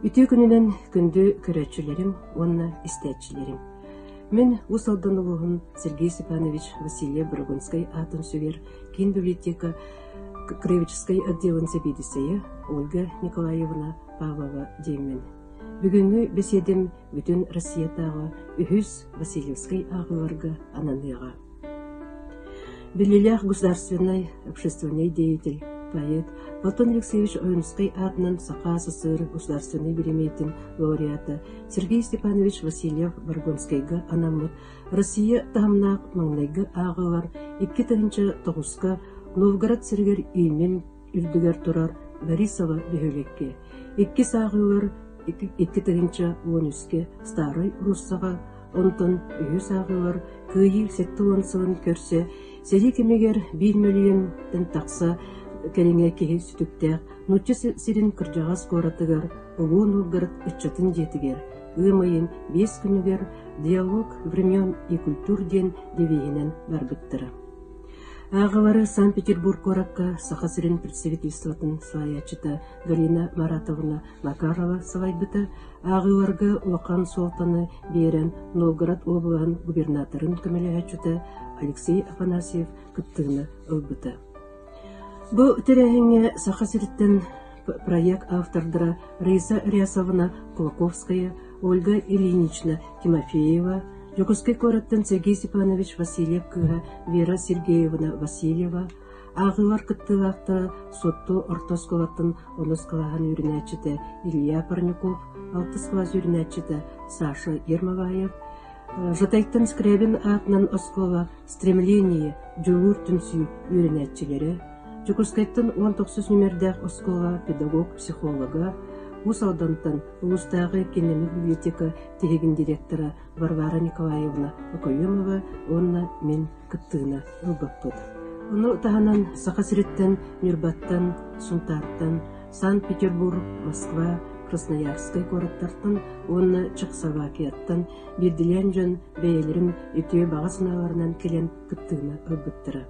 Үтүө күнүнэн күндү көрөөччүлэрим уонна истээччилэрим! Мин Уус Алдан улууһун Сергей Степанович Васильев-Борогунскай аатын сүгэр киин библиотека краеведческай отделын сэбиэдиссэйэ Ольга Николаевна Павлова диэммин. Бүгүҥҥү бэсиэдэм бүтүн Россиятааҕы үһүс Васильевскай ааҕыыларга ананыаҕа. Биллиилээх государственнай общественнай деятель, поэт Платон Алексеевич Ойуунускай аатынан Саха СССР государственнай биримиэтин лауреата Сергей Степанович Васильев-Баргонскайга анаммыт Россия таһымнаах маҥнайгы ааҕыылар икки тыһыынча тоҕуска Новгород сиригэр Ильмень үрдүгэр турар Борисово бөһүөлэккэ икки сааһыылар икки тыһыынча уон үскэ Старай Руссаҕа онтон үһүс ааҕыылар кыайыы сэттэ уон сылын көрсө сэрии кэмигэр биир мөлүйүөнтэн тахса кэриҥэ киһи сүтүктээх нуучча сирин кырдьаҕас куоратыгар Улуу Новгород ыччатын дьиэтигэр ыам ыйын биэс күнүгэр «Диалог времен и культур» диэн девиһинэн барбыттара Ааҕыылары Санкт-Петербург куоракка Саха сирин представительствотын салайааччыта Галина Маратовна Макарова салайбыта, ааҕыыларга улахан суолтаны биэрэн Новгород уобалаһын губернаторын көмөлөһөөччүтэ Алексей Афанасьев кыттыыны ылбыта. Бу тэрээһиҥҥэ Саха сириттэн проект автордара Риза Рясовна Кулаковская, Ольга Ильинична Тимофеева, Дьокуускай куораттан Сергей Степанович Васильев-кыыһа Вера Сергеевна Васильева, ааҕыылар кыттыылаахтара Суотту орто оскуолатын оноскалаһан үөрэнээччитэ Илья Парников, алтыс кылаас үөрэнээччитэ Саша Ермолаев, Жатайтан Скрябин аатынан оскуола «Стремление» дьулуур түмсүү үөрэнээччилэрэ, Дьокуускайтан уон тохсус нүмердээх оскуолаҕа педагог-психолога, Уус Алдантан улуустааҕы кинини библиотека тиһигин директора Варвара Николаевна Окоемова уонна мин кыттыыны ылбыппыт. Ону таһынан Саха сириттэн, Ньурбаттан, Сунтаартан, Санкт-Петербург, Москва, Красноярскай куораттартан уонна Чехословакияттан биирдиилээн дьон бэйэлэрин үтүө баҕа санааларынан кэлэн кыттыыны ылбыттара.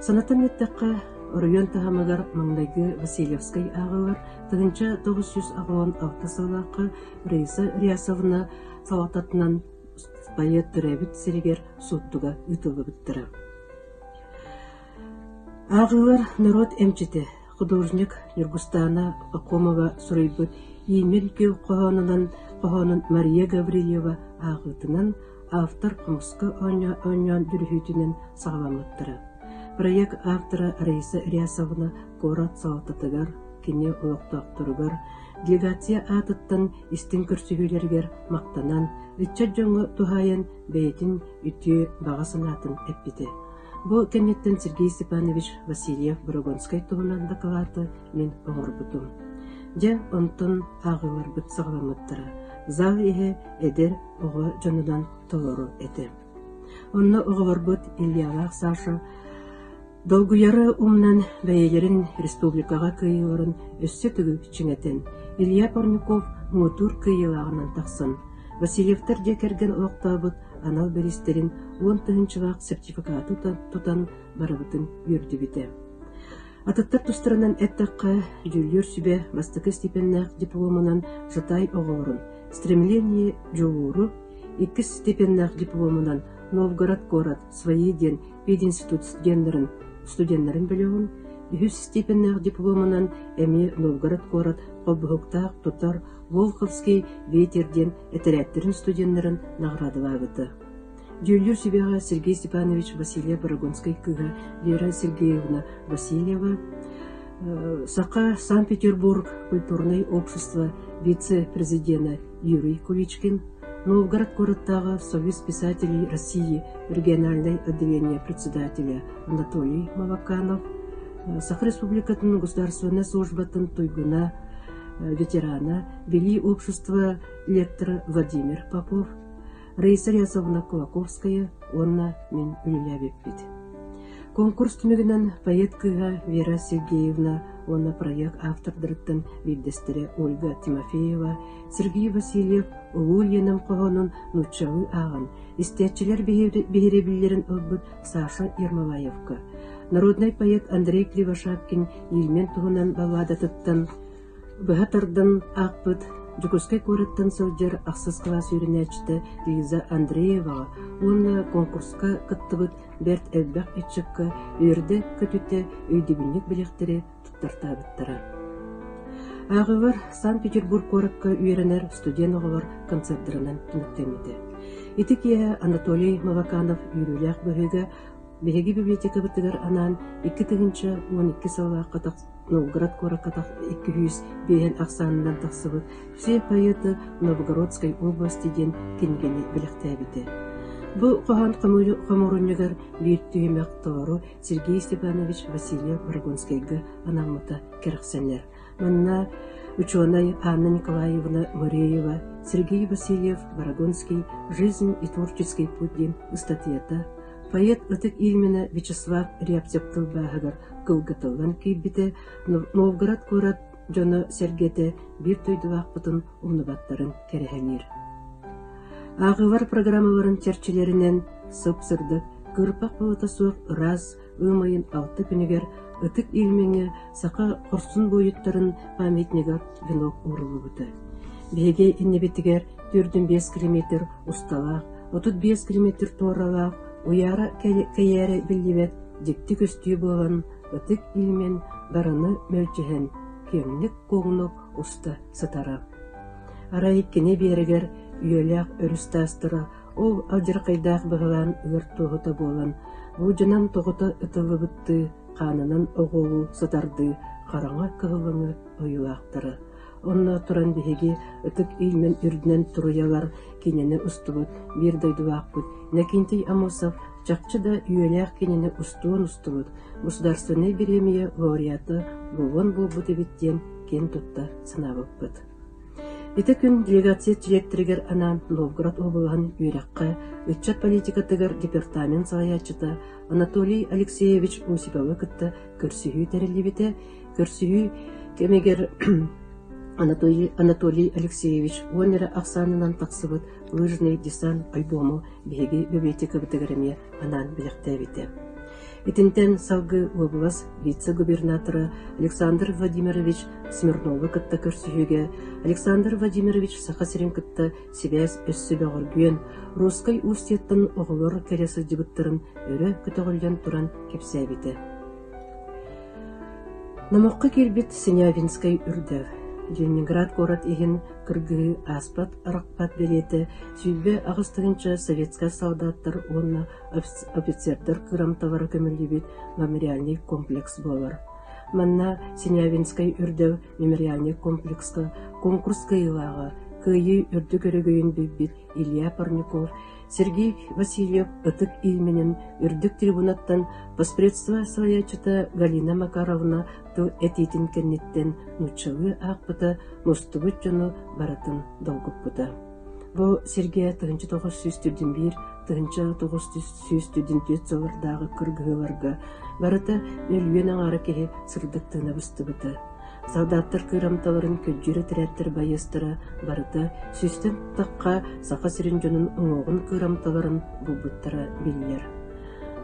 Санатан эттэххэ, оройуон таһымыгар маҥнайгы Васильевскай ааҕыылар тыһыынча тоҕус сүүс аҕыон алта сыллаахха Раиса Реасовна салалтатынан поэт төрөөбүт сиригэр Суоттуга ыытыллыбыттара. Ааҕыылар норуот эмчитэ, художник Ньургустаана Лакомова суруйбут «Иимин күл хоһоонунан» хоһоонун Мария Гаврильева ааҕыытынан, автор хомуска оонньоон бүрүһүүтүнэн саҕаламмыттара. Проект автора Раиса Рясовна куорат салалтатыгар, кини олохтоохторугар, делегация аатыттан истиҥ көрсүһүүлэригэр махтанан, ыччат дьоҥҥо туһаайан бэйэтин үтүө баҕа санаатын эппитэ. Бу кэнниттэн Сергей Степанович Васильев-Борогонскай туһунан дакылааты мин оҥорбутум. Дьэ, онтон ааҕыыларбыт саҕаламмыттара. Зал иһэ эдэр оҕо дьонунан толору этэ. Онно оҕолорбут Ильялаах Саша долгуйары умнан бэйэлэрин республикаҕа кыайыыларын өссө төгүл чиҥэтэн, Илья Парняков муҥутуур кыайыылааҕынан тахсан, Васильевтар дьиэ кэргэн олохтообут анал бэристэрин уон тыһыынчалаах сертификаты тутан барыбытын үөрдүбүтэ. Атыттар тустарынан эттэххэ, дьүүллүөр сүбэ бастакы стипеннээх дипломунан Сатай оҕолорун, стремление дьулууру, иккис стипеннээх дипломунан Новгород куорат свои диэн пединститут студеннарын студеннарын бөлөҕүн, үһүс стипеннээх дипломунан эмиэ Новгород куорат холбоһуктаах тутар Волховский ветер диэн этэрээттэрин студеннарын наҕараадалаабыта. Дьүүллүүр сүбэҕэ Сергей Степанович Васильев-Барагонскай кыыһа Лера Сергеевна Васильева, саха Санкт-Петербург культурнай общества вице-президенэ Юрий Куличкин, Новгород куораттааҕы Союз писателей России региональнай отделение председателя Анатолий Малаканов, Саха Республикатын Государственнай службатын туйгуна ветерана, Велии общества лектора Владимир Попов, Раиса Рясовна Кулаковская уонна мин үлэлээбиппит. Конкурс түмүгүнэн поэт кыыһа Вера Сергеевна уонна проект автордарыттан биирдэстэрэ Ольга Тимофеева, Сергей Васильев улуу Ленин хоһоонун нууччалыы ааҕан, истээччилэр биһирэбиллэрин ылбыт Саша Ермолаевка, народнай поэт Андрей Кривошапкин Ильмен туһунан балладатыттан быһа тардан аахпыт Дьокуускай куораттан сылдьар ахсыс кылаас үөрэнээччитэ Лиза Андрееваҕа уонна конкурска кыттыбыт бэрт элбэх ыччакка үөрдэ-көтүтэ өйдөбүнньүк билиэхтэри туттартаабыттара. Ааҕыылар Санкт-Петербург куоракка үөрэнэр студент оҕолор концердарынан түмүктэммитэ. Ити киэһэ Анатолий Маваканов үөрүүлээх быһыыга биһиги библиотекабытыгар анаан икки тыһыынча уон икки сыллаахха тах Новгород куоракка тах икки сүүс биэһин ахсаанынан тахсыбыт «Все поэты Новгородской области» диэн кинигэни бэлэхтээбитэ. Бу хоһоон хомуурунньугар биир түһүмэх толору Сергей Степанович Васильев Рогонскайга анаммыта кэрэхсэнэр. Манна учуонай Анна Николаевна Вореева, Сергей Васильев «Барагонский. Жизнь и творческий путь» диэн ыстатыйата, поэт ытык именно Вячеслав Рябцев тылбааһыгар кылгатыллан киирбитэ Новгород куорат дьоно-сэргэтэ биир дойдулаахпытын умнубаттарын кэрэһэлиир. АХВ программаларын чэрчилэринэн сып-сырдык, кырпах быһыта суох ыраас ыам ыйын алта күнүгэр ытык илмиҥэ саха хорсун буойуттарын памятнига венок ууруллубута. Биһиги иннибитигэр төрдүн биэс километр усталаах, отут биэс километр туоралаах уяра кэйээрэ биллибэт дьикти көстүү буолан ытык иимин дарыны мөлдьөһөн күөмнүк-куоҥнук уста сытара. Арай кини биэрэгэр үйэлээх өрүс таастара ол алдьархайдаах быһылаан ыар туоһута буолан, буудьанан тоҕута ытыллыбыттыы хаанынан оҕуолуу сытардыы хараҥа кыһылыҥы ойуулаахтара Онно туран биһиги ытык илмин үрдүнэн туруйалар кинини устубут, биир дойдулаахпыт Нэкинтий Амосов чахчы да үөнээх кинини устуон устубут, государственнай бириэмийэ лауреата буолуон буолбут эбит диэн киэн тутта санаабыппыт. Ити күн делегация директорыгар анаан Новгород облаһын үөрэххэ, ыччат политикатыгар департамент салайааччыта Анатолий Алексеевич Усиповы кытта көрсүһүү тэриллибитэ Көрсүһүү кэмигэр Анатолий, Анатолий Алексеевич уонна ахсаанынан тахсыбыт «Лыжный десант» альбому биһиги бэбиэтикабытыгар эмиэ анаан бэлэхтээбитэ. Итинтэн салгыы уобалас вице-губернатора Александр Владимирович Смирнову кытта көрсүһүүгэ Александр Владимирович Саха сирин кытта сибээс өссө бөҕөргүөн, Русскай Устьеттан оҕолор кэлэ сылдьыбыттарын өрө көтөҕүллэн туран кэпсээбитэ. Номоххо киирбит Синявинскай үрдэл, Ленинград куорат иһин кыргыһыы ааспат арахпат бэлиэтэ сүүрбэ аҕыс тыһыынча советскай солдаттар уонна офицердар кырамталара көмүллүбүт мемориальнай комплекс буолар. Манна Синявинскай үрдэл мемориальнай комплекска, конкурс кыайыылааҕа, кыайыы үрдүк өрөгөйүн билбит Илья Парников, Сергей Васильев ытык илииминэн үрдүк трибунаттан поспредство салайааччыта Галина Макаровна тыл этиитин кэнниттэн нууччалыы аахпыта мустубут дьону барытын долгуппута. Бу сиргэ тыһынча тоҕус сүүс түрдүн биир тыһынча тоҕус сүүс түрдүн түөрт сыллардааҕы кыргыһыыларга барыта нөлүйүөн аҥаара киһи сырдык тыына быстыбыта. Салдааттар кыырамталарын күрдьүрэ тирээттэр байыастара барыта сүстэн тахха Саха сирин дьонун уҥуоҕун кыырамталарын булбуттара биллэр.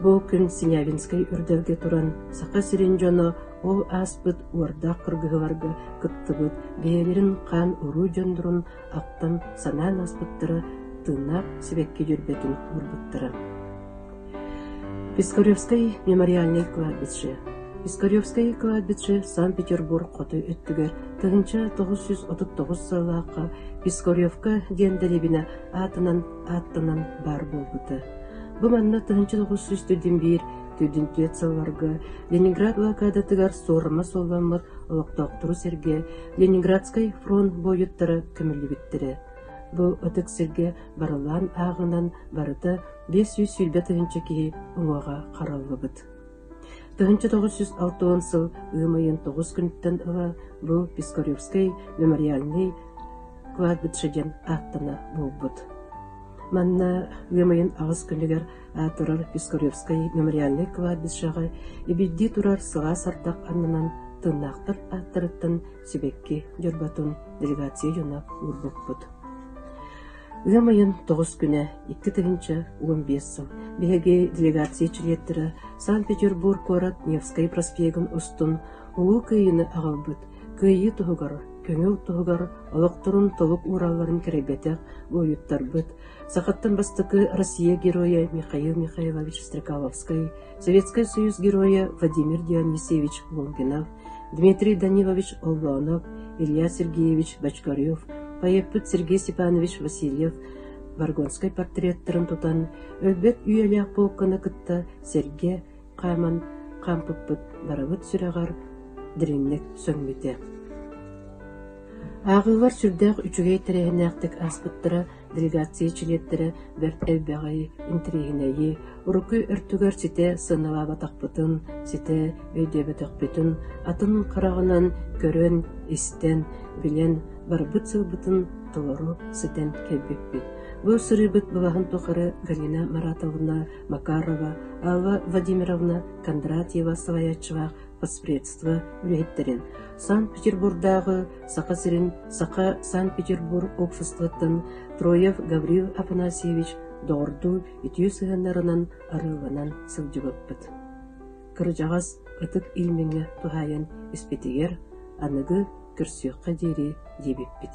Бу күн Синявинскай үрдэлгэ туран Саха сирин дьоно ол ааспыт уордаах кыргыһыларга кыттыбыт бэйэлэрин хаан-уруу дьондорун ахтан санаан ааспыттара тыыннаах сибэкки дьөрбөтүн уурбуттара Пискаревскай мемориальнай кладбище Пискаревскай кладбище Санкт-Петербург хоту өттүгэр тыһыынча тоҕус сүүс отут тоҕус сыллаахха Пискаревка диэн дэриэбинэ аатынан ааттанан баар буолбута. Бу манна тыһыынча тоҕус сүүс төрдүн биир төрдүн түөрт сылларга Ленинград блокадатыгар суорума суолламмыт олохтоохтору сэргэ Ленинградскай фронт буойуттара көмүллүбүттэрэ. Бу ытык сиргэ барылаан ааҕынан барыта биэс сүүс сүүрбэ тыһыынча киһи уҥуоҕа хараллыбыт. Тыһыынча тоҕус сүүс алта уон сыл ыам ыйын тоҕус күнүттэн ыла бу Пискаревскай мемориальнай кладбище диэн ааттана буолбут. Манна ыам ыйын аҕыс күнүгэр турар Пискаревскай мемориальнай кладбищеҕа ибирдии турар сылаас ардах аннынан тыннаахтар ааттарыттан сибэкки дьорботун делегация дьоно уурбуппут. Ыам ыйын тоҕус күнэ, икки тыһыынча уон биэс сыл, биһиги делегация чилиэттэрэ Санкт-Петербург куорат Невскэй проспегын устун Улуу Кыайыыны аҕалбыт, Кыайыы туһугар, көҥүл туһугар олохторун толук ууралларын кэрэйбэтэх буойуттарбыт, сахаттан бастакы Россия Геройа Михаил Михайлович Стрекаловскай Советскай Союз Геройа Владимир Дионисьевич Лунгинов, Дмитрий Данилович Оллонов, Илья Сергеевич Бочкарев, поэппыт Сергей Степанович Васильев Баргонскай портреттарын тутан, өлбөт үйэлээх полканы кытта сэргэ хааман хаампыппыт барыбыт сүрэҕэр дириҥник сөҥмүтэ. Ааҕыылар сүрдээх үчүгэй тэрээһиннээхтик ааспыттара Делегация чилиэттэрэ бэрт элбэҕи, интириэһинэйи, урукку өртүгэр ситэ сыаналаабатахпытын, ситэ өйдөөбөтөхпүтүн, атын хараҕынан көрөн, истэн, билэн барбыт сылбытын толору ситэн кэлбиппит. Бу сырыыбыт былаһын тухары Галина Маратовна Макарова, Алла Владимировна Кондратьева салайааччылаах поспредство үлэһиттэрин, Санкт-Петербурдааҕы Саха сирин, саха Санкт-Петербург уксустуттан Троев Гаврил Афанасьевич доҕордуу үтүө сыһыаннарынан арыыланан сылдьыбыппыт. Кырдьаҕас ытык илмиҥҥэ туһаайан испитигэр аныгы көрсүөххэ диэри диэбиппит.